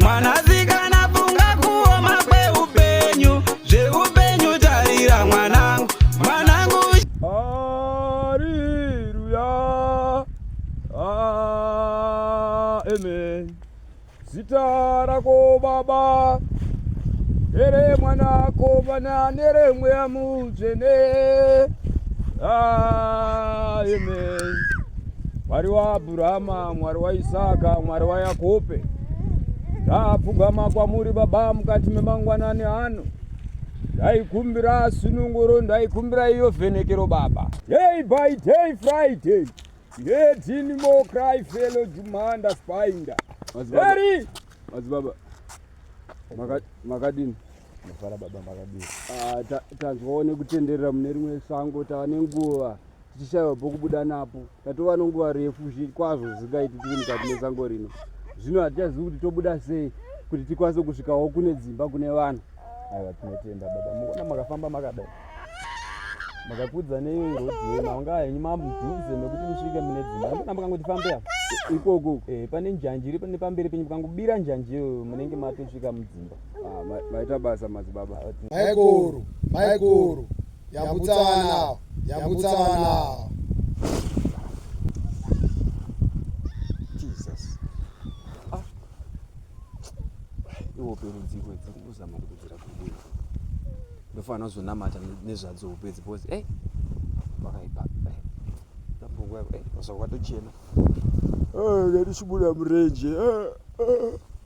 mwanasikana funga kuoma kweupenyu zveupenyu tarira mwanangu mwanangu hariruya amen zita rako baba ere mwana kovana neremweya mudzvene amen Mwari waAbrahama, Mwari waIsaka, Mwari waYakobe, ndaapfugama kwamuri Baba mukati memangwanani ano ndaikumbira sununguro ndaikumbira iyo vhenekero baba day by day friday yedini mo cry fellow jumanda spinder eri madzibaba makadini mafara baba makadini ah, tanzwawo nekutenderera mune rimwe sango tava nenguva tichishaiwa pokubuda napo tatova nonguva refu kwazvo zvisingaiti tiri mukati mesango rino zvino hatichazivi kuti tobuda sei kuti tikwanise kusvikawo kune dzimba kune vanhu aiwa tinotenda baba muona makafamba makadai makakudza nerodzimaunga henyu mamujuze mekuti musvike mune dzimba anokona mukangotifambe apa ikoko eh, pane njanji iri pane pamberi penyu mukangobira njanji iyo munenge matosvika mudzimba ah, maita basa madzibaba maikoro maikoro Yambutsa vana ava. Yambutsa vana ava. Jesus. Ah. Iwo peri dziko idzi kuzama kudzira kudini. Ndofanira kuzonamata nezvadzo upedzi because eh pakaipa. Eh. Ndambogwa eh paswa kwatochena. Eh ngatichibuda murenje. Eh. eh.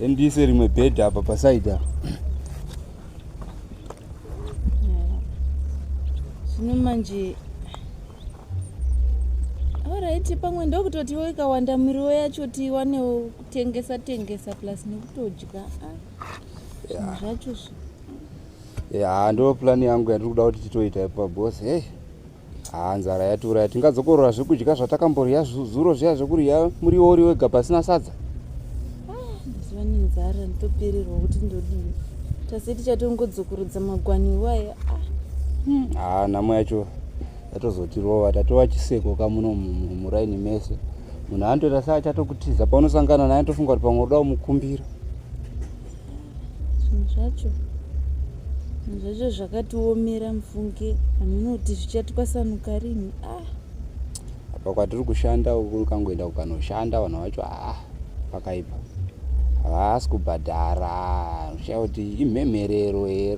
Ndiise rimwe bed apa paside apa. Zvino manje Alright, pamwe ndokutotiwo ikawanda miriwo yacho tiwanewo kutengesa tengesa plus nekutodya. Ah, zvacho zvi. Yeah, ndo plan yangu yandiri kuda kuti titoita ipa boss. Hey. haa nzara yatura ya tingadzokorora zvekudya zvatakamborya zuro zviya zvekurya muriwo uri wega pasina sadza mazuva ah, nenzara nditopererwa kuti ndodii tasi tichatongodzokorodza magwani iwaya ah. hmm, haa ah, nhamo yacho yatozotirova tatova chiseko kamuno muraini mese munhu anotoita sa achatokutiza paunosangana naye tofunga kuti pamwe uda umukumbira zvinhu zvacho zvinhu zvacho zvakatiomera mufunge vanhu unoti zvichatwasanuka rini ah apa kwatiri kushanda uku ukangoenda kukanoshanda vanhu vacho ah pakaipa havasi kubhadhara zvichaya kuti imhemherero here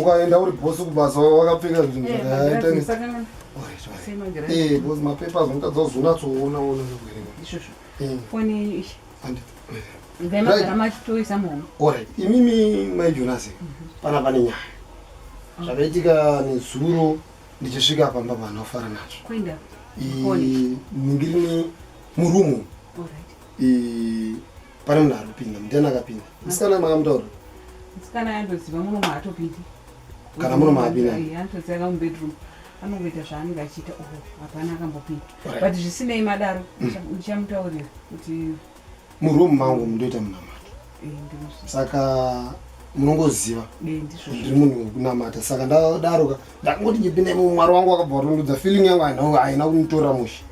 ukaenda uri bosi kubasa wakapfeka zvinhu eh, zvakaita eh, bosi mapepa zvinotadza kuzonatsoona ona imimi mai jonasi mhm. pana pane nyaya ah. zvakaitika nezuro ndichisvika pamba vanhu vafara nazvo ndingiri murumu pane munhu ari kupinda mutena akapinda musikana makamutaura musikana yandoziva muno maatopindi kana muno maapinda anotozia ka mubedroom anongoita zvaanenge achiita o oh, hapana akambopinda but zvisinei madaro ndichamutaurira kuti muroom mangu mundoita munamato eh, saka munongoziva ndiri munhu wekunamata saka ndadaroka ndakungoti nyepinda imo mwari wangu wakabva watondudza feeling yangu haina kumutora mushe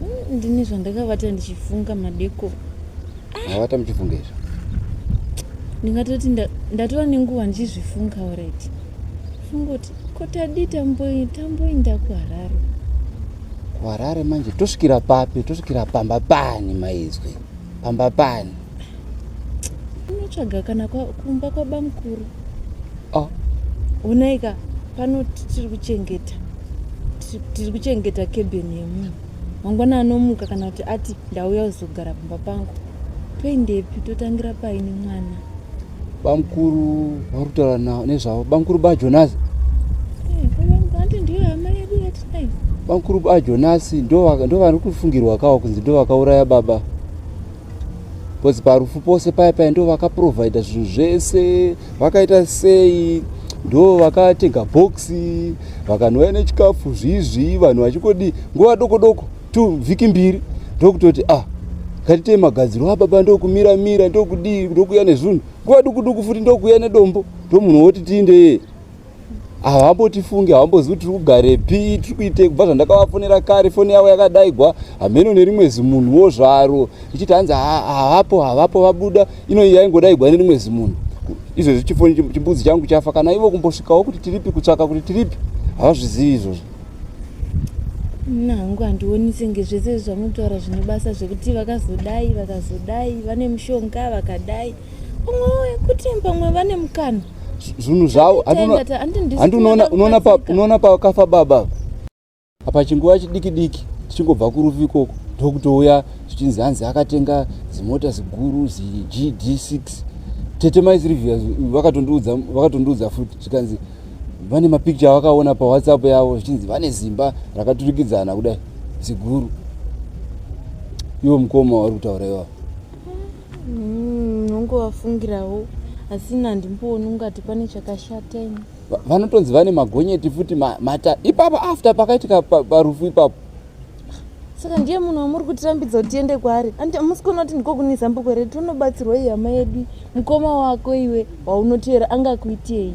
Mm, ndine zvandakavata ndichifunga madeko mavata muchifunga izvo ndingatoti ndatova nenguva ndichizvifunga oredi fungoti ko tadii tamboinda kuharare kuharare manje tosvikira papi tosvikira pamba pani maizwi pamba pani unotsvaga kana kumba kwabamukuru oh. onaika pano tiri kuchengeta tiri kuchengeta kebeni yemunhu mangwana anomuka kana kuti ati ndauya kuzogara pamba pangu toendepi totangira paini mwana bamukuru vari kutaura nezvavo bamukuru bajonasi bamukuru bajonasi ndo vari kufungirwa kawo kunzi ndo vakauraya baba bcause parufu pose paya paya ndo vakaprovidha zvinhu zvese vakaita sei ndo vakatenga boxi vakanouya nechikafu zviizvii vanhu vachikodi nguva doko doko tu vhiki mbiri ndokutoti ah ngatitei magadziro ababa ah, ndokumira mira ndokudii ndokuya nezvinhu nguva duku duku futi ndokuya nedombo ndomunhu woti tiindeyee havambotifungi havambozivi kuti tiri kugarepi tiri kuitei kubva zvandakavafonera kare foni yavo yakadaigwa hameno nerimwe zimunhuwo zvaro ichiti hanzi havapo havapo vabuda inoyi yaingodaigwa nerimwe zimunhu izvezvi chifoni chimbudzi changu chafa kana ivo kumbosvikawo kuti tiripi kutsvaka kuti tiripi havazvizivi izvozvo mna hangu handioni senge zvese zvamunotaura zvine basa zvekuti vakazodai vakazodai vane mushonga vakadai kuti pamwe vane mukana zvinhu zvavo handi unoona pakafa baba apa chinguva chidiki diki tichingobva kurufu ikoko ndokutouya zvichinzi hanzi akatenga zimota ziguru zigd 6 tete maisirivia vakatondiudza futi zvikanzi vane mapicture avakaona pawhatsapp yavo zvichinzi vane zimba rakaturikidzana kudai ziguru ivo mukoma wauri kutaura ivavo Mm, ungovafungirawo asi ini handimbooni ungati pane chakashata ini vanotonzi vane magonyeti futi mata ipapo after pakaitika parufu ipapo saka ndiye munhu wamuri kutirambidza kuti tiende kwaari andi amusi kuona kuti ndiko kune zambuko redu unobatsirwa ihama yedu mukoma wako iwe waunoteera angakuitei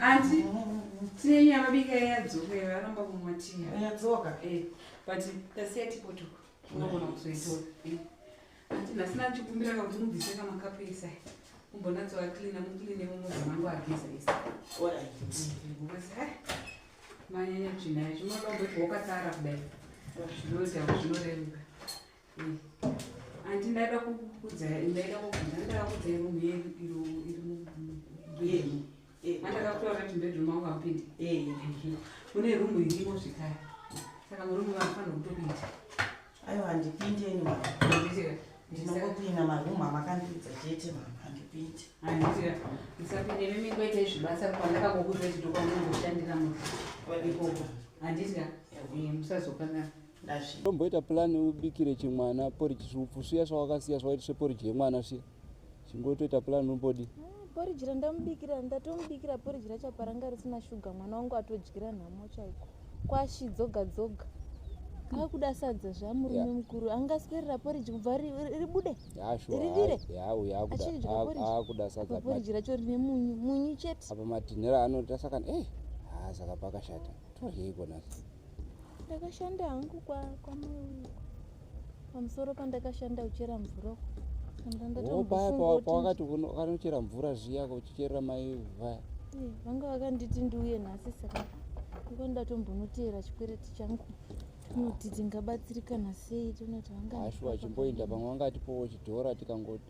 anti tine nyama bika yadzoka varamba kumwa tiya yadzoka eh, but tasiya tipotoka unogona kuzoitora eh. anti nhasi nachikumbira kakuti mubvise kamakapu isa umbonatsoa cleana mucleane mumuzi mangu ageza isa manyanya tsvina yacho unoda umbotiwakasara kudai zvinoita zvinoreruka Anti ndaida kukudza ndaida kukudza ndaida kukudza iro mbiye iro iro mbiye iro. Eh, andaka kutora kuti bedroom wangu apinde. Eh, kune room irimo zvikaya. Saka murume vafana kutopinda. Ayo handipinde ni mama. Ndizira. Ndinongopinda maroom amakandidza chete mama handipinde. Handizira. Musapinde mimi ngoita izvi basa kwandaka kukudza chidokwa mungu shandira munhu. Ikoko. Handizira. Eh, musazokana. tomboita plan ubikire chimwana poriji svupfu sviya swawakasiya swawaiti sveporiji yemwana sviya chingotoita plan umbodi poriji randamubikira ndatomubikira poriji rachapa ranga risina shuga mwana wangu atodyira nhamo chaiko kwashi dzoga dzoga akuda sadza zvamurume mukuru angaswerera poriji kubva ribude rivire achidyaakuda sadza poriji racho rine munyu munyu chete apa matinhera anoita saka e eh, haa saka pakashata tohei konasi ndakashanda hangu kwamaiuko pamusoro pandakashanda kuchera mvura pawakati kanochera mvura zviya kuchicherera mai vaya eh, vanga vakanditi ndiuye nhasi saka iko ndatombonoteera chikwereti changu kuti tingabatsirikana sei tonati vangaashuwa chimboinda pamwe vangatipowo chidhora tikangoti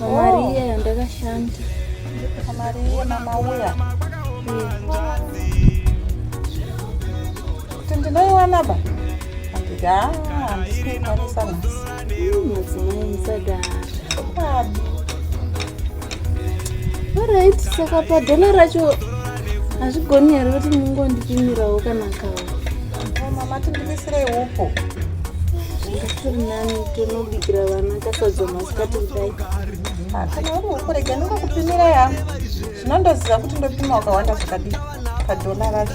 Mari iye yandakashanda. Mari iye mama uya. Kuti ndinoiwana ba? Handika handisi kuikwanisa nhasi. Madzimai musadaro. Babi. Alright, saka padhona racho hazvigoni here kuti mungondipimirawo kana kawo. Mama tindimisirei hupo. Ndikurinani tinobikira vana kasadza masikati kudai. Ah, kana uri hupo rega ndingokupimira yangu. Zvinondoziva kuti ndopima wakawanda zvakadii padhola racho.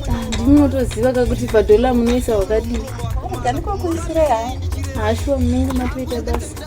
Ah, Ndinotoziva kakuti padhola munoisa wakadii. Rega ndikokuisira yangu. Hashuwa ah, munenge matoita basa.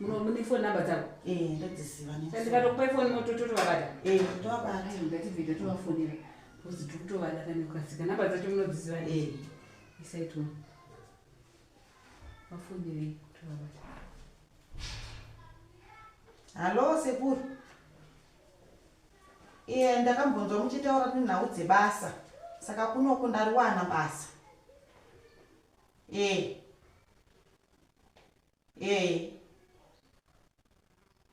muno mune foni namba dzavo eh, ndodzizivaandikatokupai foni mototovabata eh, tovabatangatibvida tovafonera bcause tiri kutovada kanekukasika namba dzacho munodziziva eh. isaito vafonere tovabata hallo sekuru iye ndakambonzwa muchitaura kuti nhau dzebasa saka kunoku ndariwana basa ee ee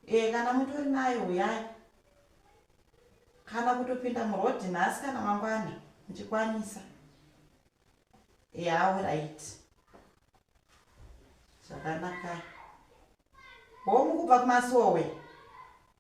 ee kana mutori nayo huyai kana kutopinda murodhi nhasi kana mangwana muchikwanisa ee auright zvakanaka homu kubva kumasowe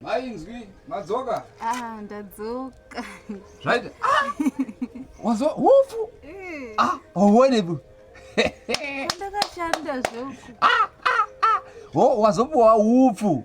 Mainzwi, madzoka? Ah, ndadzoka. Zvaita? Ah! Wazo hofu? Eh. Ah, uone bu. Ndakashanda zvoku. Ah, ah, ah. Ho, wazopuwa upfu.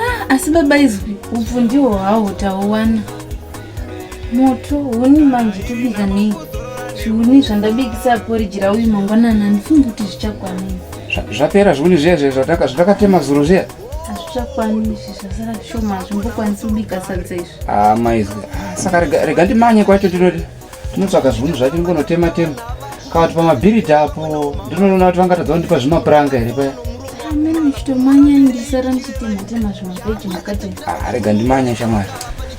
Ah, asi baba izwi upfu ndiwo hawo tauwana moto huni manje tobika nei zviuni zvandabikisa aporiji rauyu mangwanana handifungi kuti zvichakwanei zvapera zviuni zviya zviya zvatakatema zuro zviya hazvichakwani izvi zvasara zvishoma hazvimbokwanisi kubika sadza izvi ah, maizwi ah, saka rega ndimanye kwacho tinoti tinotsvaga zvinhu zvake ngonotema tema kawati pamabhiriti apo ndinoona kuti vangatadza kundipa zvimapuranga here paya ah, rega ndimanya shamwari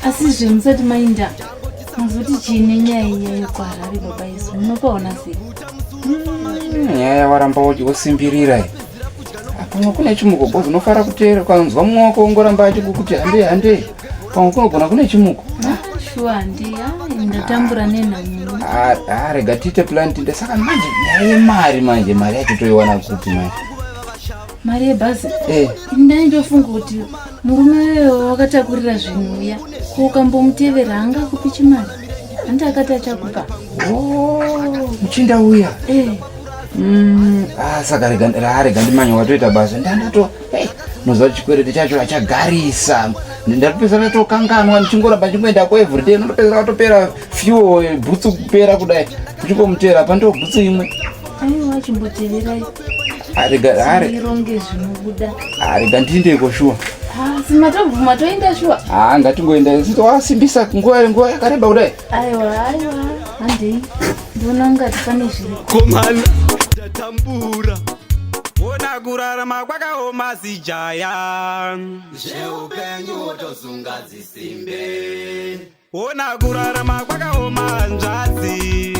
asi zve musati mainda muzoti chii nenyaya iyayo kwaharari baba isu munopaona sei hmm, nyaya yawaramba wosimbirira pamwe kune chimugogozi unofara kuteera ukanzwa mumwe wako ongoramba achikukuti handei handei pamwe kunogona kune chimuko rega tiite plan tinde saka manje nyaya yemari manje mari yacho toiwana kupi manje mari yebhazi eh. ndai ndofunga kuti murume weyo wakatakurira zvinhu uya ko ukambomutevera anga kupi chimari handi akati achakupa oh, muchinda uya eh. mm, ah, saka rega ndimanya watoita basa ndandato hey, muziva chikwereti chacho achagarisa ndatopedzana tokanganwa ndichingoramba ndichingoenda ko everyday ndotopedzana atopera fuel eh, bhutsu kupera kudai ndichingomutera pa ndobhutsu imwe aiwa chimbotererai arega ndiindeiko shuwa simatobvuma toenda shuwa haa ngatingoenda wasimbisa nguva yakareba kudai aiwa aiwa handei Ndona ngati pane zviri. Komana tatambura. Ona kurarama kwakaoma sijaya. Zveupenyu wotozunga dzisimbe. Ona kurarama kwakaoma hanzvadzi.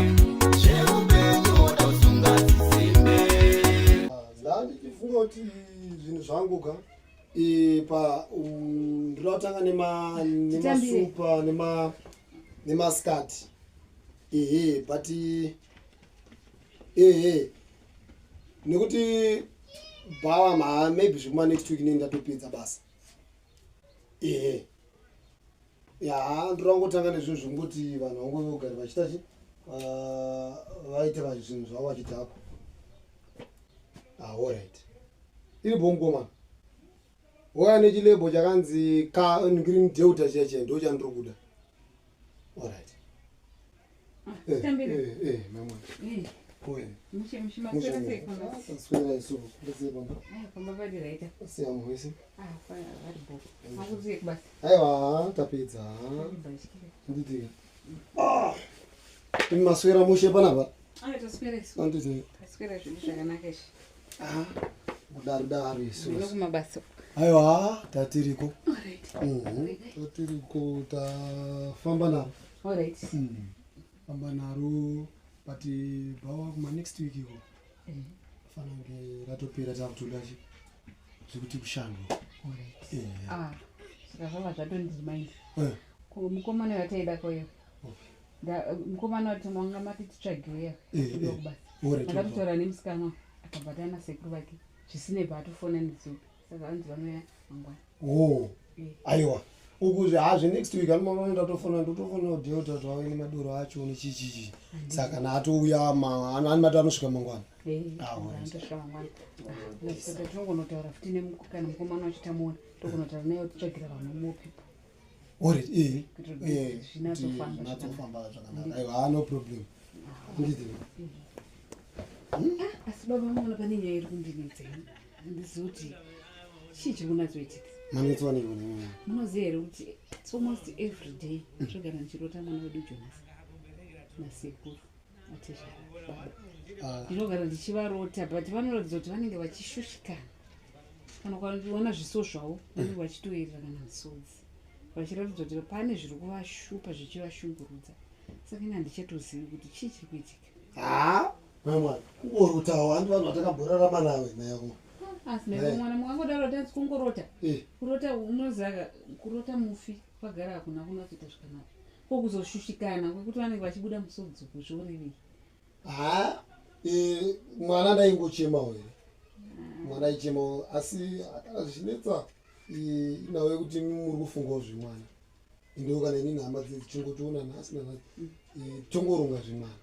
Zveupenyu wotozunga dzisimbe. Ndandichifunga kuti zvinhu zvangu ka pa ndinotanga nema nemasupa nema nemaskati ehe but ehe nekuti bhawa ma maybe zvekuma next week nei ndatopedza basa ehe ya ndorangotanga nezvinhu zvekungoti vanhu vangove vogari vachiita chi ah, vaite vanhu zvinhu zvavo vachidhakwa aorit ah, iri bongoman wauya nechilebo chakanzi ka green delta chiya chiya ndo chandiri kuda orit aiwa tapedza nditika ah! maswera mushe panapa anditi Ah, kudaro daro isu. Ndino kumabasa. Aiwa, tatiriko. All right. Mhm. Tatiriko tafamba naro. All right. Mhm. Famba naro but bawa kuma next week iko. Mhm. Fana nge ratopera takutoda chi. Zvikuti kushando. All right. Eh. Ah. Saka zvava zvatondizimai. Eh. Ko mukomana yataida koyo. Okay. mukomana wacho manga mati titsvageya ndakakutaura nemusikana akabatana nasekuru vake zvisine paatofona nezuva saka anzi vanoya mangwana oh, aiwa ukuzvi hazvi next week anomamana ndatofona ndotofona udeota kuti wave nemadoro acho nechichichi saka naatouya ani mati anosvika mangwana tinongonotaura futi kana mukomana wachitamuona tokunotaura naye titsvagira vamwe mopeople or it eh, eh, natsofamba zvakanaka aiwa ah, no problem ndidii ah, asi baba mona pane nyaya iri kundinetsei ndizoti chii chiri kunatsoitika manetswa neivona munoziva here kuti its almost every day zvogara ndichirota mwana wedu jonas nasekuru ah. ndinogara ndichivarota but vanoratidza kuti vanenge vachishushikana kana ukaona zviso zvavo vanenge vachitoerera kana misodzi vachiratidza kuti pane zviri kuvashupa zvichivashungurudza saka ini handichatozivi kuti chii chiri kuitika haa mamwa kungori kuti awo andi vanhu vatakabhorarama nawe nayako mwana mukangodaro tanzi kungorota kurota unoziva kurota mufi kwagara hakuna kunokuita zvakanaka ko kuzoshushikana kwekuti vanenge vachibuda musodzi uku zvorevei ha e, mwana ndaingochemawo here ah. mwana aichemawo asi akana zvichinetsa inawo yekuti muri kufungawo zvemwana ndiwo kana ini nhama dzichingotiona nhasi nanhasi mm. e, tongoronga zvemwana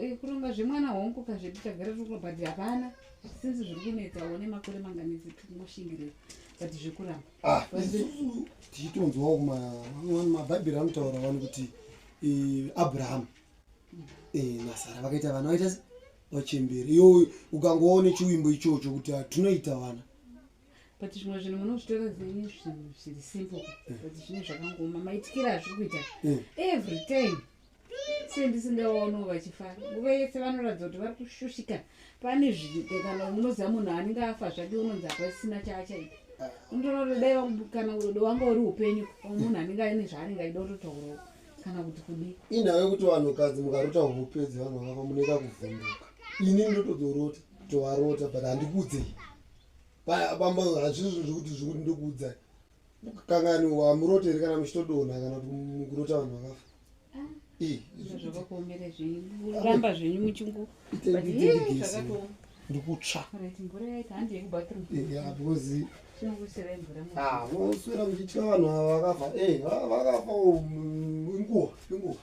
e, kuronga zvemwana hongu kazvedu tagara tiri kubhadhi hapana sinzi zviri kunetsawo nemakore manganetsi tikungoshingirewa but zvekuramba ah, isusu tichitonzwawo mabhaibheri anotaura vanhu kuti eh, abrahamu eh, nasara vakaita vana vaita se vachemberi iyo ukangovawo nechiwimbo ichocho kuti tinoita vana but zvimwe zvinhu munozvitora zvenyu zvinhu zviri simple but zvine zvakangoma maitikira azviri kuita every time sei ndisingaono vachifara nguva yese vanoratidza kuti vari kushushika pane zviite kana unoziva munhu anenge afa zvake unonzi hapasina chaachaita unotorodaiakana udo wanga uri upenyu munhu anenge aine zvaanenge aida kutotaurawo kana kuti kudii inhava yekuti vanhukadzi mukarota hupedzi vanhu vakafa muneka kuvhunduka ini ndotozorota tovarota but handikuudzei pamba hazvizvo zvekuti zvekuti ndokuudzai kanganiwa muroteri kana muchitodona kana kurota vanhu vakafa zvakakuomere zvenyuramba zvenyu muchingondikutsva voswera muchitya vanhu ava vakafa eh, vakafa inguva inguva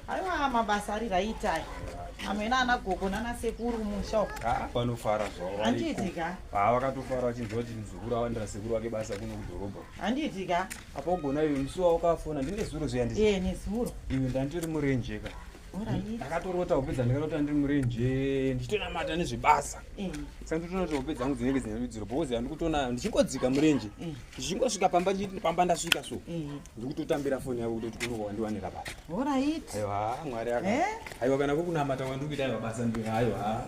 Aiwa mabasa ari right ayo. Amwena ana gogo nana sekuru musha uko. Ah, vanofara zvavo. Handiti ka? Ah, vakatofara vachinzwa kuti muzukuru awandira sekuru wake basa kuno kudhorobha. Handiti ka? Apa ugona iwe musi wawo kafona ndine zuro zviya ndisi. Eh, nezuro. Iwe ndanditori murenje ka. Ndakatorota hope dzandakarota ndiri murenje ndichitonamata nezvebasa. Eh. Saka nditonota hope dzangu dzinenge dzine rudziro because handikutonayo ndichingodzika murenje. Eh. Ndichingosvika pamba pamba ndasvika so. Eh. ndikutotambira foni yako kutoti kunoka wandiwanira basa orit aiwa mwari aka eh? aiwa kana kuri kunamata kwandiri kuita aiwa basa ndiri aiwa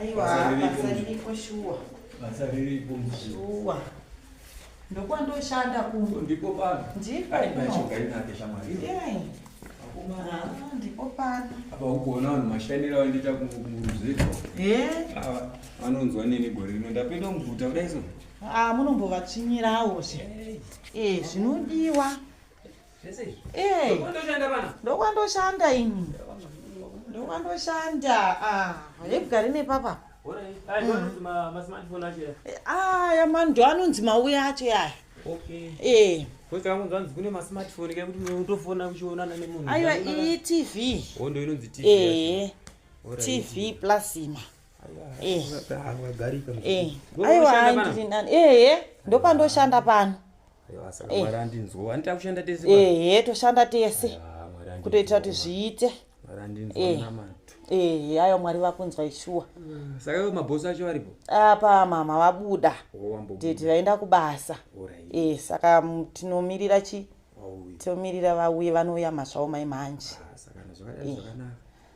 aiwa basa riripo shuwa basa riripo shuwa ndokwandoshanda kuno ndipo pano ndipo panogainake shamwari ah, ndipo pano apa ukuona vanhu mashandira vandiita kumuruzeko eh? vanonzwa nini gore rino ndapinda muguta kudai so Ah, munombovatsvinyirawo zve eh, zvinodiwa eh, ndokwandoshanda ini ndokwandoshanda ah, yebwari nepapa mm. eh, aya mando anonzi mauye acho yaya eh. aiwa iyi tv tv plasima Eh. Eh. aiwa handiri nani ehe ndopandoshanda pano ehe toshanda tese kutoitira kuti zviite ehe ayo mwari vakunzwa ishuwa apa mama vabuda tete vaenda kubasa e saka tinomirira chi tomirira vauye vanouya mazvawo mai manje ah,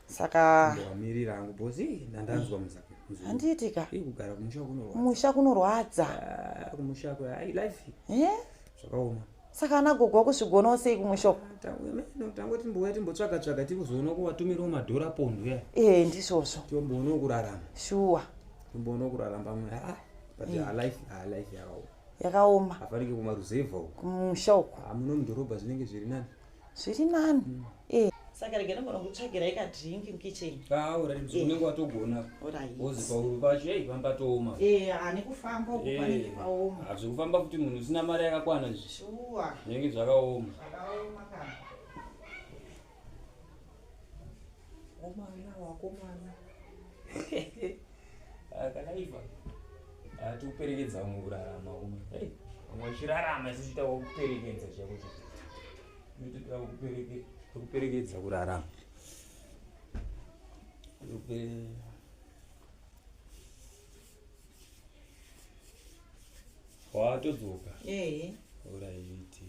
saka ndamirira hangu bosi ndandanzwa muzaka handiitika kugara kumusha kunorwadza kumusha kunorwadza ah, kumusha kwai life eh zvakaoma saka ana gogo wakusvigonawo sei kumusho tango timbouya timbotsvaga tsvaga tiri kuzoona kuvatumirawo madhora pondo ya ee ndizvozvo timboonawo kurarama shuwa timboonawo kurarama pamwe aa but alife alife yakaoma yakaoma hafanike kumaruzevha uko kumusha uko hamuno mudhorobha zvinenge zviri nani zviri nani mm. eh. saka rega nogona kutsvagira ikadrink mkitchen ah, eh. unenge watogona ozipauru pacho ei pamba tooma eh, ane kufamba kupanenge paoma hazvi kufamba kuti munhu usina mari yakakwana zvishuwa zvinenge zvakaoma zvakaoma kana omana wakomana Ah, kanaiva ah, tikuperekedza vamwe kurarama ume hey, vamwe vachirarama isi tichitawo kuperekedza chakuti tikuperekedza kurarama watodzoka oraiti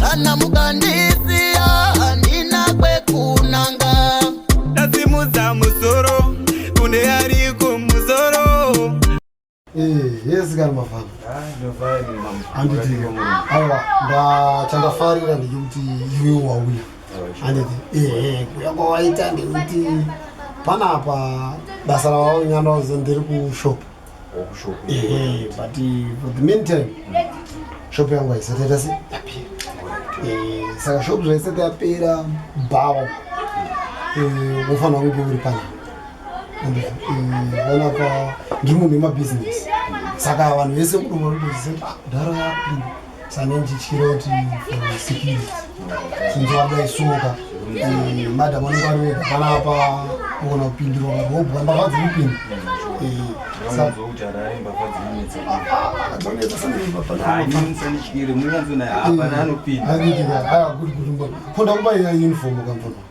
kana mukandisiya handina kwekunanga ndasimudza musoro kune ari kumusoro yes kana mafana aiwa ndachandafarira ndechekuti iwe wauya anditi ehe kuya kwawaita ndekuti panapa basa ravaunyanda uze ndiri kushop workshop ehe but for the meantime shop yangu haisati yaita se yapera Eh, saka shop zvaisati yapera bhawa wofanira kunge uri pana And, eh, vana pa ndiri munhu wemabhizinesi saka vanhu vese kudomarotoziva kuti ah, mudhara yapinda sane ndichityira kuti sikiri sinzi wabudai suka eh, madam anenge ari wega panapa kuona kupindirwa vanhu wobhuka mbavha dziri kupinda konda kuba ya uniform kamvona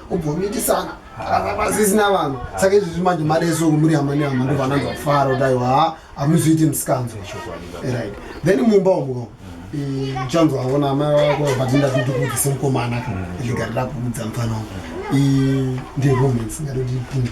kubvomitisana pasisina vanhu saka izvi zvi manje mari yeso muri hama nehama ndo vananza kufara kuti aiwa ha hamuzoiti misikanzo right then mumba umo uchanzi waona amai vako but ndadidi kuudza semukomana ligarira kuudza mfana wangu ndiromance ngatodipinda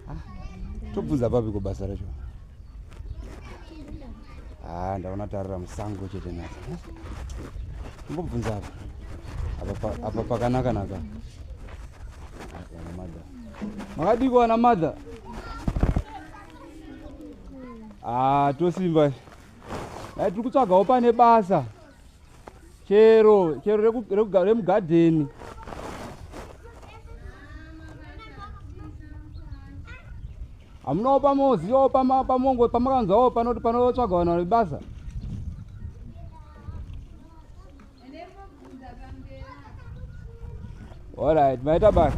tobvunza papi kobasa racho ha ah, ndaona tarira musango chete nasa mbobvunza apa apa pakanaka naka makadiko wana madha ha ah, tosimba ai tiri kutsvagawo pane basa chero chero remugadheni hamunawo pamozi wo pamongo pamakanzwawo panoti panotsvaga vanhu vane basa allright maita basa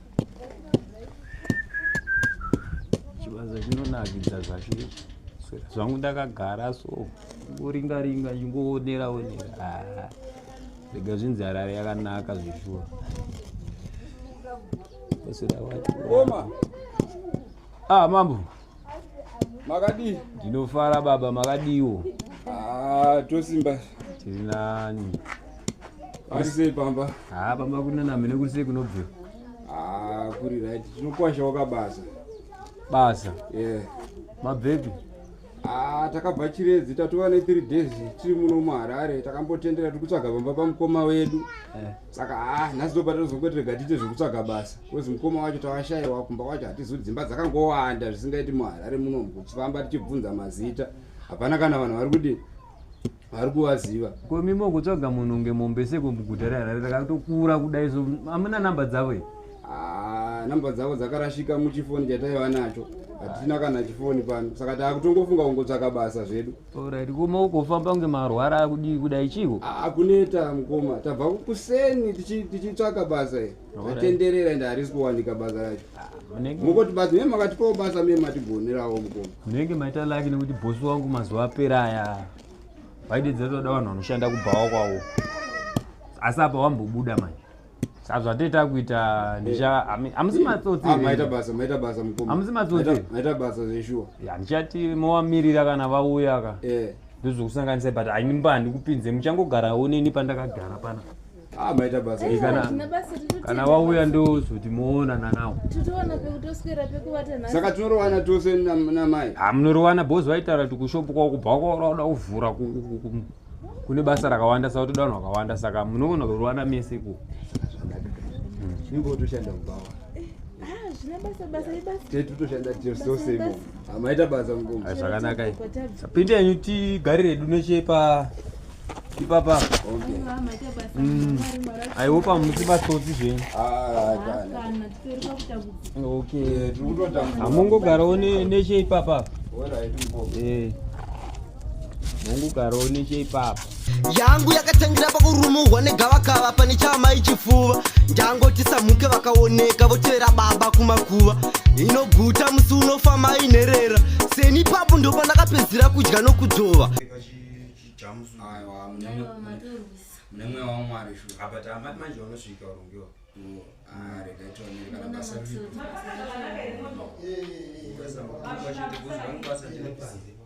chivanza chinonakidza zvacho zvangu ndakagara so ngoringa ringa chingoonera onera ah, rega zvinzi harare yakanaka zveshuwa ah mambo makadii ndinofara baba makadiiwo ah, tosimba tiri nani arisei pamba haa ah, pamba kuri nanamene kuri sei kunobvira ah, kuri right tinokwasha wakabasa basa yeah. mabvepi Ah, takabva chiredzi tatova ne three days tiri muno muharare takambotendera tiri kutsvaga pamba pamukoma wedu eh. saka haa nhasi ndopatozongo tirega tiite zvekutsvaga basa kozi mukoma wacho tawashaiwa kumba kwacho hatizoti dzimba dzakangowanda zvisingaiti muharare muno mukuchifamba tichibvunza mazita hapana kana vanhu vari kudii vari kuvaziva komimo kutsvaga munhu unge mombe seko muguta reharare rakatokura kudai so amuna namba dzavo i ah, namba dzavo dzakarashika muchifoni chataiva nacho hatina kana chifoni pano saka taakutongofunga kungotsvaka basa zvedu Alright, kuma ukofamba kunge marwara akudii kudai chiiko? Akuneta mukoma, tabva kuseni tichitsvaka basa iri. Atenderera ende harisi kuwanika basa racho. Ah, Mukoti basa mimi makatipawo basa mimi matigonerawo mukoma. Munenge maita laki nekuti boss wangu mazuva apera aya. Vaidedzera toda vanhu vanoshanda kubhawa kwawo. Asi apa wambobuda manje. sazvateta kuita ndicha hamusi matsotsi ah, maita basa maita basa mukoma hamusi matsotsi maita basa zveshuwa ya ndichati movamirira kana vauya ka eh. ndozvokusanganisa but ainimba handikupinze muchangogarawo neni pandakagara pana ah, maita basa eh, kana vauya ndozoti moonana nawo saka tinorowana tose namai hamunorowana bhozi vaitaura kuti kushopu kwakubva kwaoda kuvhura kune basa rakawanda saka toda vanhu vakawanda saka munogona kurwana mese ku ingotoshanda kubawa amaita basa mukoma zvakanaka pinde yenyu tigarire edu neche pa ipapa mm. aihope hamusi batsotsi zvenyu okay hamungogarawo neche ipapa eh. Mungu karoni cheipapa. Yangu yakatangira pakurumuhwa negavakava pane chama ichifuva. Ndango tisamuke vakaoneka votevera baba kumakuva. Inoguta musi unofa mai nherera. Seni papo ndo pandakapedzira kudya nokudzova. Mune mweya waMwari shu. Apa tamati manje unosvika urongiwa. Ah, rega tionere kana basa riripo. Basa riripo. Basa riripo. Basa riripo.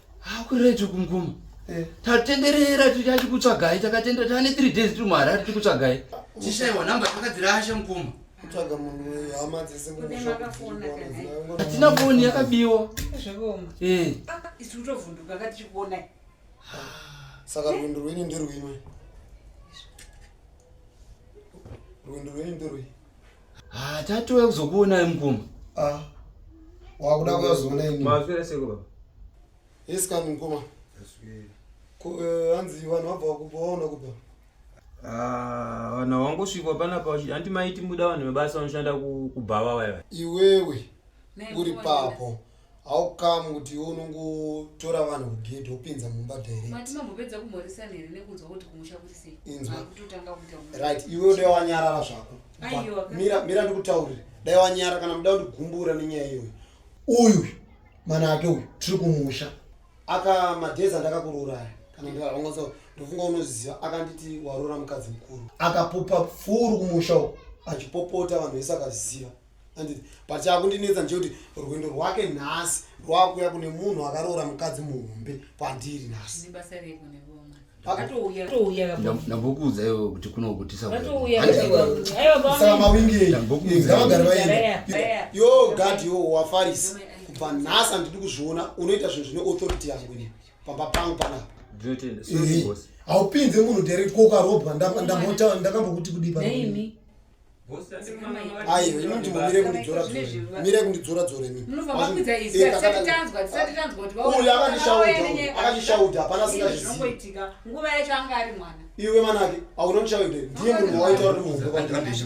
hakuretu kumkuma eh. tatenderera tichachikutsvagai takatendera tane three days tiri muharari tikutsvagai tishaiwa namba takadzirasha mkuma kutsvaga munhu hama dzesekuatina foni yakabiwa eh. ah, isu kutovhunduka ka tichikuona saka rwendo rwenyu ndirwimwe rwendo rwenyu ndirwei Ah, tatouya kuzokuonai mukoma. Ah. Wakuda kuzoona ini. Mafira seko baba. Yes kani mukoma. Aswera. Ko eh, hanzi vanhu vabva kubva waona kubva. Ah, vanhu wangosvikwa pana pa anti maiti muda vanhu mabasa vanoshanda kubhava vaya. Iwewe uri papo. How come kuti iwe unongotora vanhu kugedhi wopinza mumba direct? Mati mambopedza kumhoresana here nekunzwa kuti kumusha kuri sei? Inzwa. Makutotanga kuita kuti- Right, iwe dai wanyarara zvako. Aiwa, But Mira, mira ndikutaurire. Dai wanyara kana muda kundigumbura nenyaya iyoyo. Uyu mana ake uyu tiri kumusha. Aka madhezi andakakurooraya. Kana ndikarongoza ndofunga unoziva akanditi waroora mukadzi mukuru. Akapupa pfuru kumusha uko achipopota vanhu vese akaziva. handiti but chakundinetsa ndechekuti rwendo rwake nhasi rwakuya kune munhu akaroora mukadzi muhombe kwandiri nhasi ndambokuudza iwe kuti kunokutisaaawingeyo gad yo wafarisi kubva nhasi andidi kuzviona unoita zvinhu zvine authority yangu ini pamba pangu panapa haupinze munhu dere kokarobwa ndakambokuti kudii ayo inonzi mumire kundidzora mire kundidzora dzora imiuyu akandishauda hapana singazviziiwe manake auna ndishaude ndiye munhu waita uri muhombe kwandii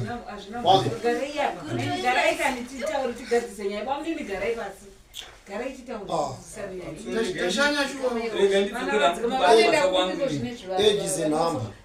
ejizenhamba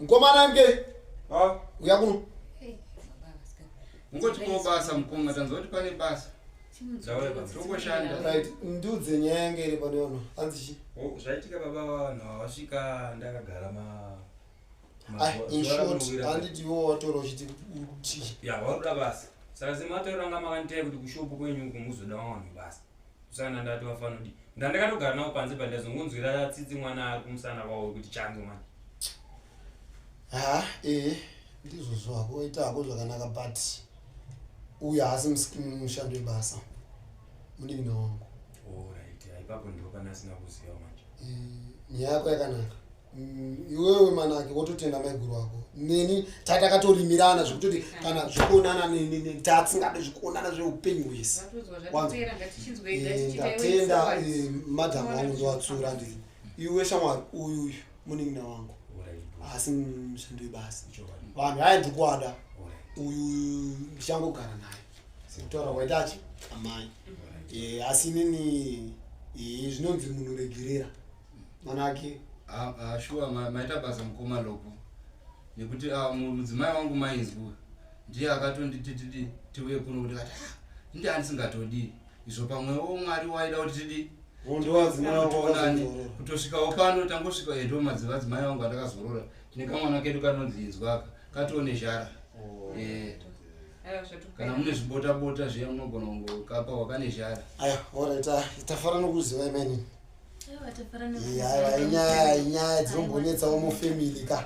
Mkomana mke. Ah. Uya kuno. Ngoti ko basa mkonga tanzwa kuti pane basa. Zvawe baba. Tokoshanda. Right. Ndudze nyaya yange iri pano yono. Anzi chi? Oh, zvaitika baba vanhu havasvika ndakagara ma Ah, in short, handiti iwo watora uchiti kuti. Ya, waruda basa. Saka zimatoranga makanditaya kuti kushopu kwenyu kumuzoda wanhu basa. kusana ndati vafanodi ndandakatogara navo panze pa ndazongonzwira tsitsi mwana ari kumusana kwavo wekuti change mwana ha ee ndizvozvo hako waita hako zvakanaka but uyu haasi mushando webasa munin'ina wangu orit oh, ipapo ndipo pane asina kuziva manje nyaya yako yakanaka Mm, iwewe manake wototenda maiguru wako neni tatakatolimirana zvekutoti kana zvekuonana tatsingade zvekuonana zveupenyu hwese ndatenda eh, eh, madham wangu ndowatsura ndi iwe shamwari uyu uyu munin'ina wangu asi mushandi webasa vanhu aye ndikuwada uyu ndichangogara naye kutaura kwaitachi amai eh, asi inini zvinonzi munhu regerera mm. manake ah, ah, shuwa maita basa mukoma lopo nekuti ah, mudzimai wangu mainzwa ndiye akatonditi tidi tiuye kuno kuti kati ndi andisingatodii izvo pamwewo mwari waida kuti tidii kutosvikawo pano tangosvika edo madzimai wangu atakazorora tine kamwana kedu kanonzi inzwaka katoone zhara oh. eh. kana mune zvibotabota zviya munogona kungokapa wakane zhara aya orit ah, tafara nokuziva imeni inyaya inyaya dzinombonetsawo mufamily ka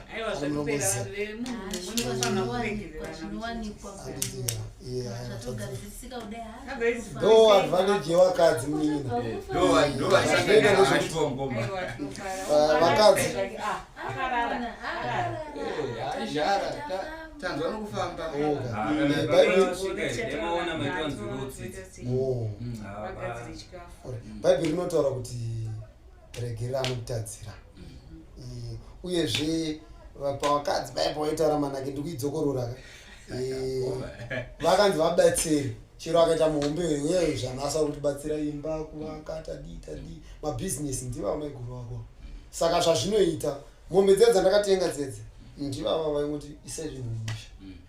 ndo advantage yevakadzi muninavakadzi tanzwa nokufamba mm. bhaibheri rinotaura kuti regerera anokutadzira mm. uyezve pavakadzi baya pavaitaura manake ndikuidzokororaka vakanzi vabatsiri chero akaita muhombe uye zvanasa kutibatsira imba kuvaka tadii tadii mabhizinesi ndivava maiguru vako saka zvazvinoita mombe dzedza ndakatenga dzedze ndivava vaingoti isai zvinhu mumusha mm.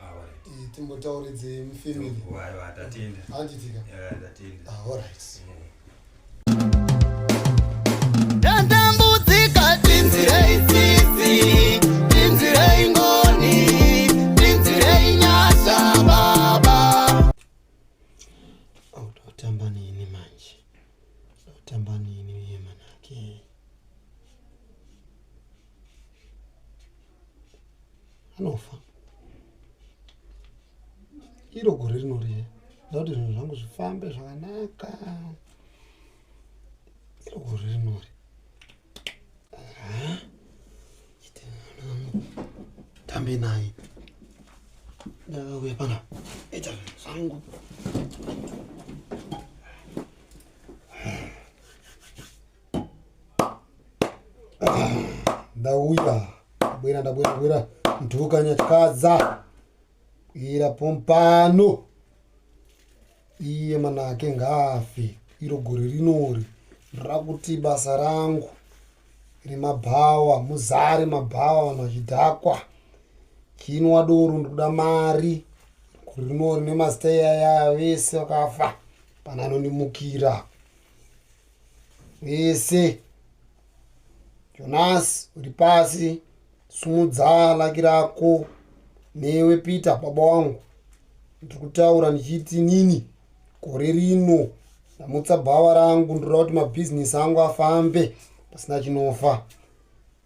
Eh, timbotauridze mufamily aiwa tatenda anditika tatenda alright ndatambudzika tinzirei tsitsi tinzirei ngoni tinzirei nyasha baba ndotamba nini manje ndotamba nini uye manake anofa iro gore rino riye nda kuti zvinhu zvangu zvifambe zvakanaka iro gore rinori tambe naye ndakauya pana ita zvinhu zvangu ndauya ndabwera ndabwera bwera ntuka nyatyaza ira pompano iye manake ngafe iro gore rinori rakuti basa rangu remabhawa muzare mabhawa vanhu vachidhakwa chinwa doro ndikuda mari gore rinori nemazita iyayaya vese vakafa pana anondimukira vese jonasi uri pasi sumudza laki rako newe peter baba wangu ndiri kutaura ndichiti nini gore rino ndamutsa bhawa rangu ndinoda kuti mabhizinesi angu afambe pasina chinofa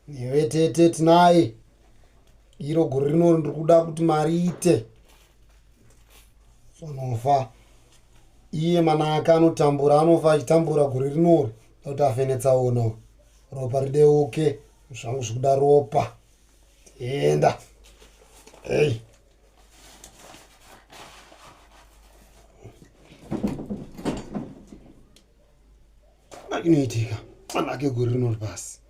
Iwe tete tinaye iro gore rino ndiri kuda kuti mari ite sonofa iye mana ake anotambura anofa achitambura gore rinori kuti afenetsaona ropa rideuke zvangu zvikuda ropa enda hey. Mwana inoitika. Mwana ake gore rinori pasi.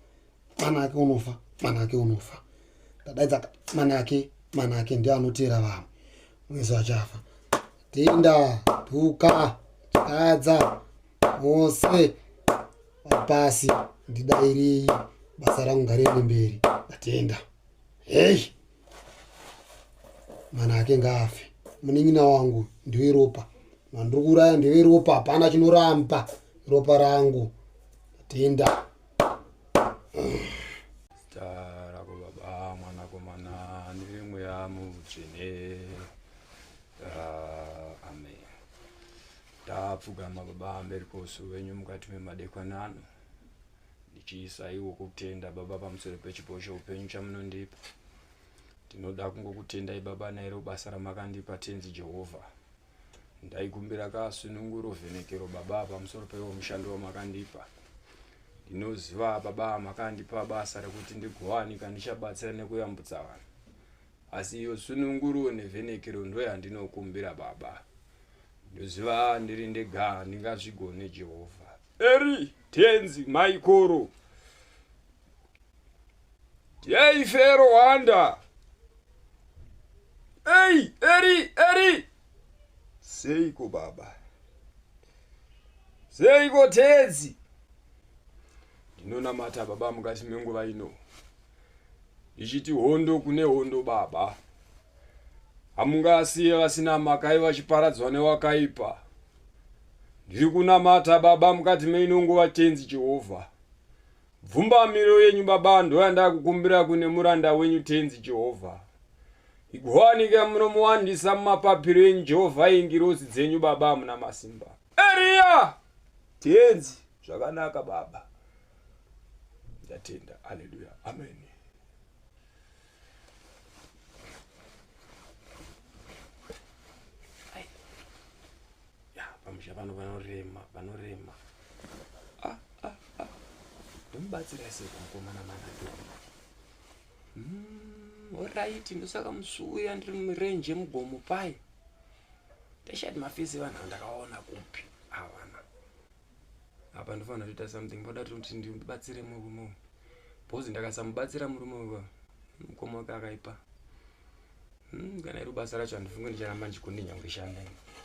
Mwana ake unofa. Mwana ake unofa. Ndadaidza mwana ake. Mwana ake ndiye anoteera vamwe. Mwezo achafa. Tinda, tuka, kadza, mose, pasi, ndidairei, basa rangu ngariende mberi. Ndatenda. Hey! mwana ake ngaafe munin'ina wangu ndiwe ropa mandiri kuuraya ndiwe ropa hapana chinoramba ropa rangu tenda zita rako baba mwanakomana nemweya mutsvene ah, amen tapfugama baba mberi kosu wenyu mukati memadekwanano ndichiisaiwo kutenda baba pamusoro pechipo cheupenyu chamunondipa ndinoda kungokutendai baba nairo basa ramakandipa tenzi jehovha ndaikumbira kasununguro vhenekero baba pamusoro peiwo mushando wamakandipa ndinoziva baba makandipa basa rekuti ndigowanika ndichabatsira nekuyambutsa vanhu asi iyo sununguro nevhenekero ndoyandinokumbira baba ndoziva ndiri ndega handingazvigone jehovha Eri tenzi maikoro. Yei fero wanda. Ei, eri, eri. Seiko baba. Seiko tenzi. Ndinonamata baba mukati menguva ino. Ichiti hondo kune hondo baba. Hamungasiye vasina makai vachiparadzwa newakaipa. Ndiri kunamata Baba mukati meino nguva Tenzi Jehovha. Bvumbamiro yenyu Baba ndoyandakukumbira kune muranda wenyu Tenzi Jehovha. Igowanika munomuwandisa mumapapiro enyu Jehovha engirosi dzenyu Baba amuna masimba. Eria! Tenzi, zvakanaka Baba. Ndatenda. Haleluya. Ameni. pamusha pano vanorema vanorema ah, ah, ah. ndomubatsira ese kukomana manado hmm, orit ndosaka musuya ndiri murenje yemugomo paye ndashati mafesi evanhu vandakaona kupi avana apa ndofanira kuita something ndoda kuti ndibatsire murume uyu bhozi ndakasamubatsira murume uyu mukoma wake akaipa hmm, kana iri basa racho handifunge ndicharamba ndichikundi nyangwe shanda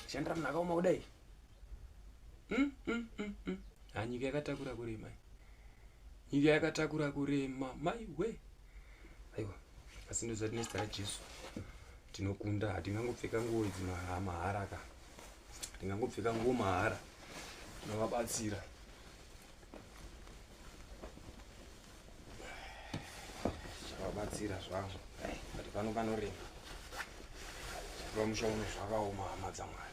shandira munhu akaoma kudai hmm, hmm, hanyika yakatakura kurema nyika yakatakura kurema maiwe aiwa asi ndozvati nezita rajesu tinokunda hatingangopfeka nguo idzi mahara ka hatingangopfeka nguo mahara tinovabatsira chavabatsira zvavo but pano panorema vamusha uno zvakaoma hama dzamwari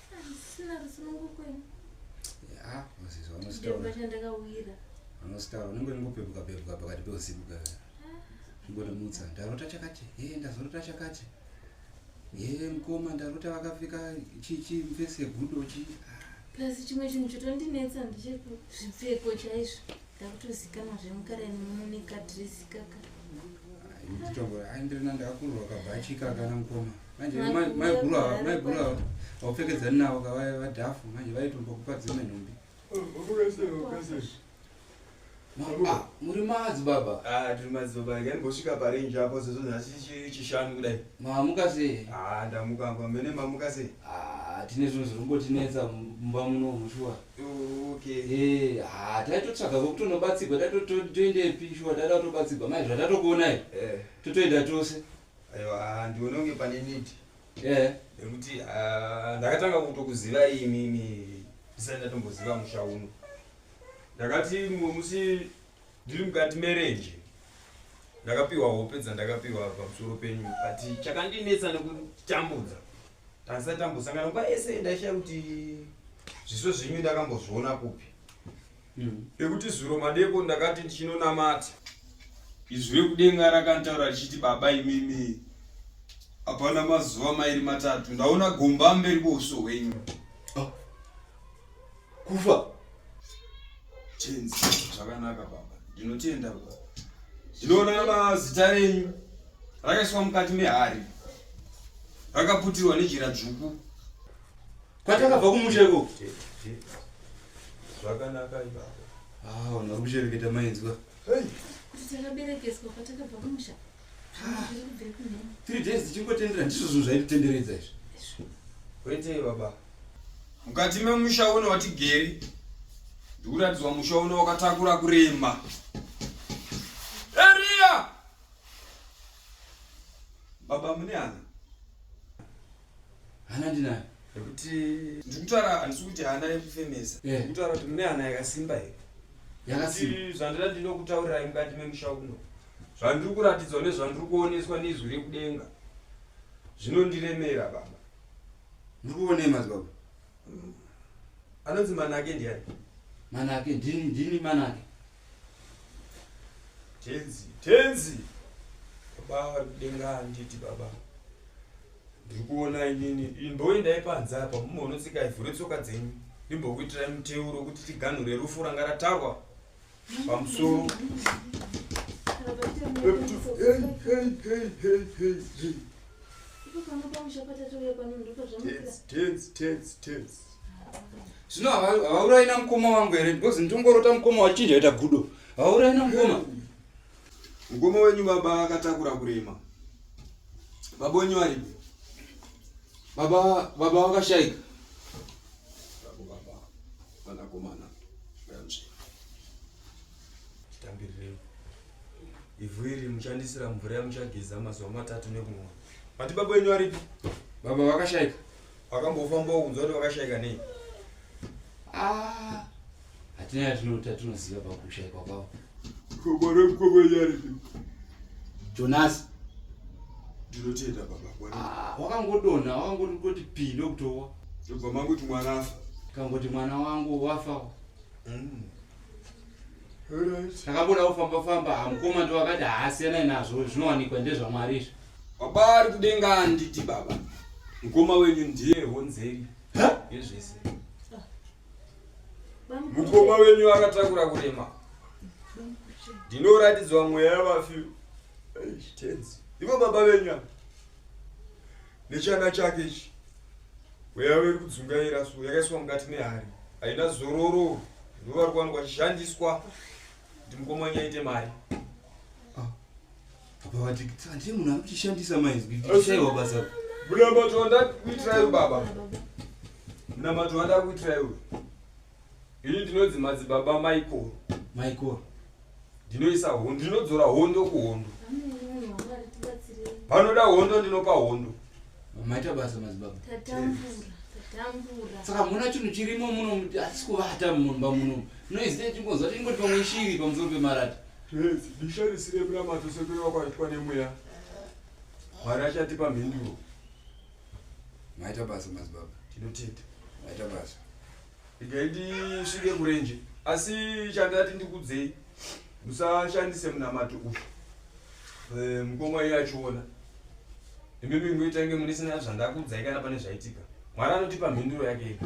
Sina rusunungu kwenyu. Ah, moses vanostaura. Ndakasha ndakawira. Vanostaura unenge ungopepuka pepuka pakati peusiku ka. Zvingotomutsa. Ndarota chakati. Eh, ndazorota chakati. Eh, mkoma ndarota vakapfeka chichi mfesi yegudo chi. Plus chimwe chinhu chotondinetsa ndicheko zvipfeko chaizvo. Ndakutozikana zvemukara nemuneka dress kaka. Nditongora, andrina ndakurwa kabhachi kaka na mkoma. manje maiguru ava maiguru ava vaupfekedzani navo kavaya vadhafu manje vaitombokupa dzimwe nhumbi ah, muri madzibaba ah, tiri madzibaba rega ndimbosvika parenji apo sezvo nhasi chishanu kudai mamuka sei ah, ndamuka mba mene mamuka sei tine zvinhu zviri kumbotinetsa mumba muno mushuwa eh, ha taitotsvaga vokutonobatsirwa tatotoendepi shuwa taida kutobatsirwa maizvo atatokuonai eh. totoenda tose aiwa handione kunge pane need eh nekuti ah, ndakatanga kutokuzivai imimi ndisati ndatomboziva musha uno ndakati mumwe musi ndiri mukati merenje ndakapiwa hope dzandakapiwa pamusoro penyu but chakandinetsa nekutambudza tandisati tambosangana nguva yese ndaishaya kuti zviso zvenyu ndakambozviona kupi mm. ekuti zuro madeko ndakati ndichinonamata izwi rekudenga rakantaura richiti baba imimi hapana mazuva mairi matatu ndaona gomba mberi kweuso hwenyu oh. kufa chenzi zvakanaka baba ndinotenda baba ndinoona mazita renyu rakaiswa mukati mehari rakaputirwa nejira dzvuku kwatakabva kumusha ikoko zvakanaka ibaba ah vanhu vari kushereketa mainzwa kuti takaberekeswa kwatakabva kumusha three days tichingotendera ndizvo zvinhu zvaititenderedza izvi kwete baba mukati memusha uno watigeri ndikuratidzwa musha uno wakatakura kurema eriya baba mune hana hana ndinayo nekuti ndikutaura handisi kuti hana yekufemesa eh. ndikutaura kuti mune hana yakasimba here yakasimba zvandida ndinokutaurirai mukati memusha uno zvandiri kuratidzwa nezvandiri kuoneswa neizwi rekudenga zvinondiremera baba ndiri kuonei madzibaba anonzi manake ndiani manake ndini ndini manake Tenzi, tenzi. Baba vari kudenga handiti baba. Ndiri kuona inini imboendai panze apa mumonotsika ivhu retsoka dzenyu. Ndimbokuitirai muteuro kuti tiganhure rufu ranga ratarwa pamusoro. Tenzi, tenzi, tenzi, tenzi. zvino havaurayi namukoma wangu here because nditongorota mukoma wachinja ita gudo havaurayi namukoma mukoma wenyu baba akatakura kurema baba wenyu varipi baba baba vakashaika vanakomana titambirirei ivhu iri muchandisira mvura yamuchageza mazuva matatu nekumwa vati baba wenyu varipi baba vakashaika wakambofamba ukunzwa kuti wakashaika nei ah, hatina yatinota tinoziva pakushaikwa kwavo jonasi ndinotenda baba ah, wakangodonha wakangoti pii ndokutowa ndobva mangoti mwana afa kangoti mwana wangu wafa mm. takambona kufamba famba hamukoma ndiwakati haasiyanai nazvo zvinowanikwa ndezvamwari izvi Baba ari kudenga anditi baba. Mukoma wenyu ndiye honzeri. Yezvese. Mukoma wenyu akatakura kurema. Ndinoratidzwa mweya yavafi. Tenzi. Ivo baba venyu apa. Nechana chake ichi. Mweya weri kudzungaira so yakaiswa mukati mehari. Haina zororo. Ndovari kuwanikwa chishandiswa. Ndimukoma wenyu aite mari. Papa vati handei munhu ari kuchishandisa mainzwi ndichaiwa basa munamato wandakuitirai baba munamato wandakuitirai uyu ini ndinonzi madzibaba maikoro maikoro ndinoisa hondo ndinodzora hondo kuhondo panoda hondo ndinopa hondo maita basa madzibaba saka muna chinhu chirimo muno asi kuvata mumba muno noizei chingonzwa tingoti pamwe shiri pamusoro pemarata Yes, bisha risiri rekunamata sekuru vako vaitwa nemweya. Mwari achatipa mhinduro. Maita basa madzibaba. Tinotenda. Maita basa. Igai ndisvike kurenje. Asi chandati ndikudzei musashandise munamato uyu. Eh, mukoma iye achiona. Imimi ngoitange munisina zvandakudzai kana pane zvaitika. Mwari anotipa mhinduro yake ega.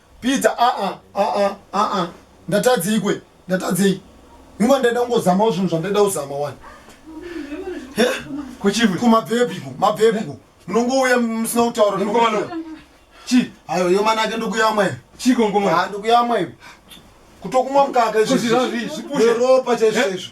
Peter aa aa aa ndatadzei kwe ndatadzei Yuma ndaida kungozamawo zvinhu zvandaida kuzama wani Kuchivi kumabhebhiko mabhebhiko munongouya musina kutaura Ngoma Chi ayo Yuma nake ndokuyamwa iwe Chiko ngoma Ah, ndokuyamwa iwe kutokumwa mukaka Kozvira izvi, zvipushe. ropa chaizvo Eh? izvo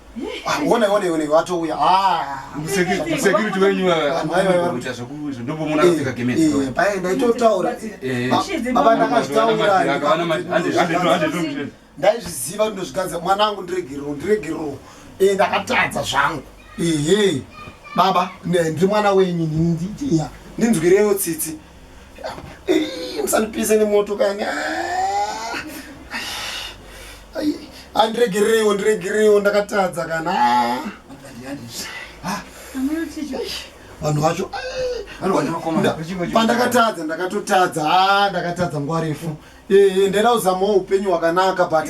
One one one watouya. Ah. Security security wenyu anoita zvekuzo ndopomona kupfeka gemezi. Eh, paye ndaitotaura. Eh. Baba ndakazvitaura. Akavana manje. Hande hande hande. Ndaizviziva ndozvigadza mwana wangu ndiregerero ndiregerero. Eh ndakatadza zvangu. Ehe. Baba ndiri mwana wenyu ndinzwirewo tsitsi. musandipise nemoto kani andiregerereiwo ndiregerereiwo ndakatadza kana vanhu vacho pandakatadza ndakatotadza a ndakatadza nguva refu ndaida kuzamawo upenyu hwakanaka but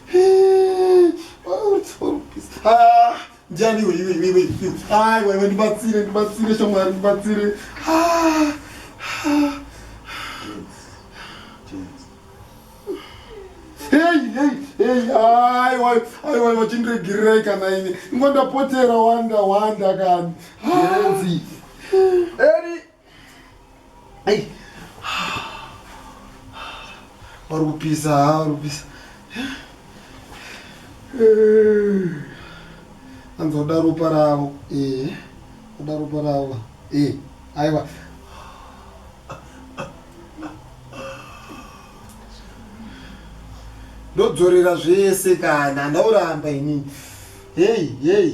Ah, ndiani iwe iwe iwe iwe aiwa iwe ndibatsire ndibatsire shamwari ndibatsire Ah, ah. Hey, hey, hey, aiwa aiwa iwe chindiregererei kana ini ingondapotera wanda wanda kani Ah. Eri Hey. Vari kupisa, vari kupisa. Anza kuda ropa ravo. Eh. Kuda ropa ravo. Eh. Aiwa. Ndodzorera zvese kana ndauramba ini. Hey, hey.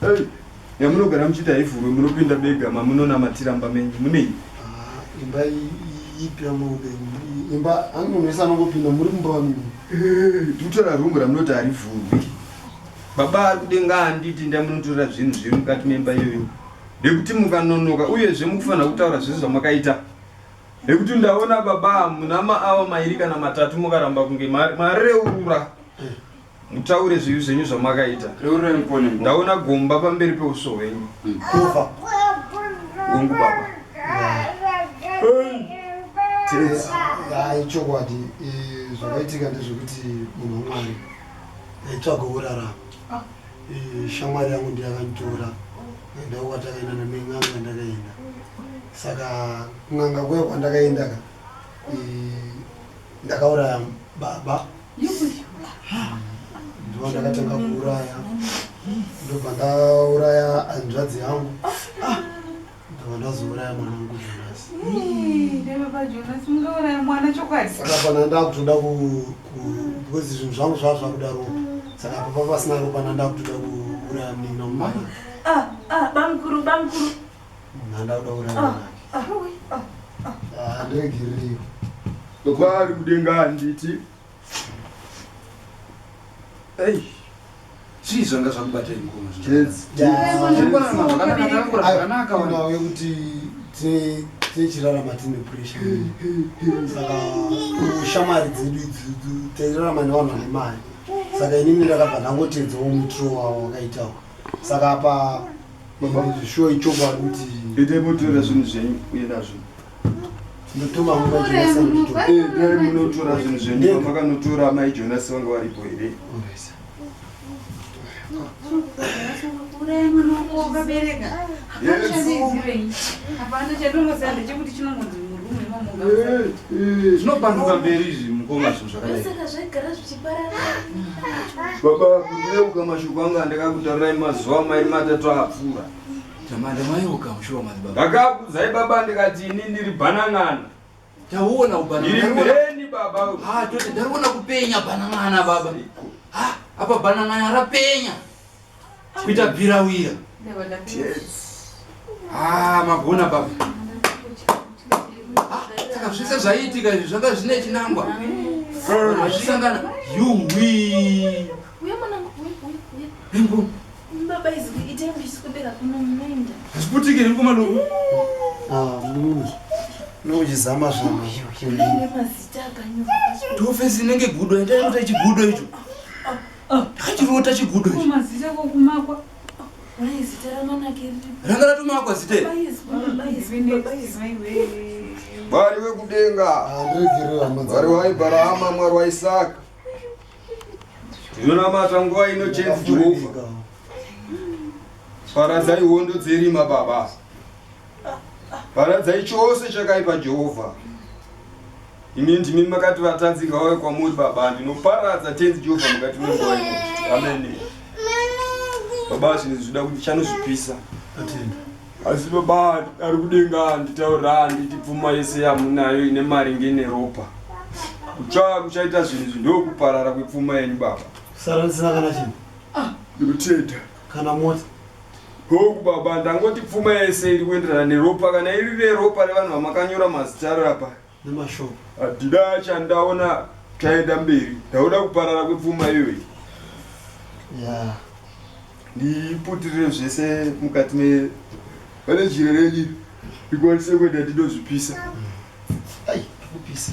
Hey, yamunogara muchita haivhurwe munopinda bega mamunonamatira mba menyu munei ah, imba ipi yamaupenyu imba ani munhu wese anongopinda muri mumba wamimi tikutora rungu ramunoti harivhurwi baba ari kudenga handiti nda munotora zvinhu zviri mukati memba iyoyo nekuti mukanonoka uyezve mukufanira kutaura zvese zvamakaita nekuti ndaona baba muna maava mairi kana matatu mukaramba kunge mareurura Mutaure zvivi zvenyu zvamakaita. Reurai mupone mukoma. Ndaona gomba pamberi peuso hwenyu. Kufa. Hongu baba. Tenzi. Hayi chokwadi eh, zvakaitika ndezvekuti munhu wamwari aitsvaga kurarama Eh, shamwari yangu ndiyo yakanditora enda kwatakaenda nemen'anga ndakaenda saka kun'anga kuya kwandakaendaka eh, ndakauraya baba ndivo ndakatanga kuuraya ndobva ndauraya hanzvadzi yangu ndobva ndazouraya mwana wangu jonasakapana hmm, ndakutoda because zvinhu zvangu zvava zvakudaro saka papa pasina ropana ndakutoda kuuraya mnina mumana ah, ah, bamkuru bamkuru Munhu andakuda kurara ah, nake. Ah, ah, ah. Ah, ndegirio. Baba ari kudenga handiti. Hey. Chii zvanga zvakubata mukoma zvinhu? Kids. Zvakanaka ona uye kuti tine tichirarama tine pressure. Hmm, hmm, hmm. Saka shamari dzedu idzi tairarama nevanhu vane mari saka inini ndakabva ndangoteedzawo mutro wawo wakaitawo saka apa Baba muzvishuwa ichokwadi kuti itai motora zvinhu zvenyu uye nazvo ndotoma nguva Jonasi anozvitora. Eh, dai munotora zvinhu zvenyu Ndega. pamakanotora amai jonasi vanga varipo here zvinopanduka mberi izvi mukoma zvinhu zvakadai Saka zvaigara zvichi baba kuyeuka mashoko anga ndakakutarirai mazuva mairi matatu apfuura tamanda mayeuka mushuwa mani baba ndakakudzai baba ndikati ini ndiri bhanan'ana tauona ubananani baba ha toti ndariona kupenya bhanan'ana baba ha apa bhanan'ana rapenya kuita birawira ah, magona baba ah, saka zvese zvaiitika izvi zvanga zvine chinangwa azvisangana yuwi ringu hazviputike ringu malungu nokuchizama zvama tofesi inenge gudo yatainota ichigudo icho Ah. Ndakachirota chigudo ichi. Mazita kokumakwa. Mai zita ramanake riri. Ranga ratomakwa zita iri. Mwari wekudenga. Ah, Mwari waIbrahama, Mwari waIsaka. Ndinonamata nguva ino chenzi Jehovha. Paradzai hondo dzerima baba. Paradzai chose chakaipa Jehovha. Imi ndimi makati vatadzi ngauye kwamuri baba ndinoparadza tenzi Jehovha mukati menguva ino. Amen. Baba zvinhu zvinoda kuti chanozvipisa. Asi baba ari kudenga nditaura nditi pfuma yese yamunayo ine mari ngene ropa. Kutsva kuchaita zvinhu izvi ndokuparara kwepfuma yenyu baba. Sara ndisina kana chinhu. Ndinotenda. kana mota Hoku baba ndangoti pfuma yese iri kuenderana neropa kana iri reropa revanhu vamakanyora mazita aro apa nemashoko hadida chandaona chaenda mberi ndauda kuparara kwepfuma iyoyi ya ndiputirire zvese mukati me pane jira renyu ndikwanise kuenda ndinozvipisa ai kupisa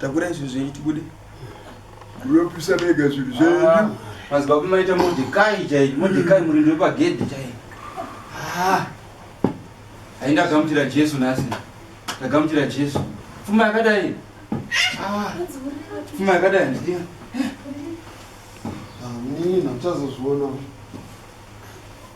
Takura izvi zvenyu tibude. Munopisa mega zvinhu zvenyu. Ah, Madzibaba maita Mordecai chaiyo. Mordecai murindi wepagedhi chaiyo. Ah. Ainda gamuchira Jesu nhasi. Ndagamuchira Jesu. Pfuma yakadai. Ah. Pfuma yakadai ndiyo. Amina, ah, mchazozviona.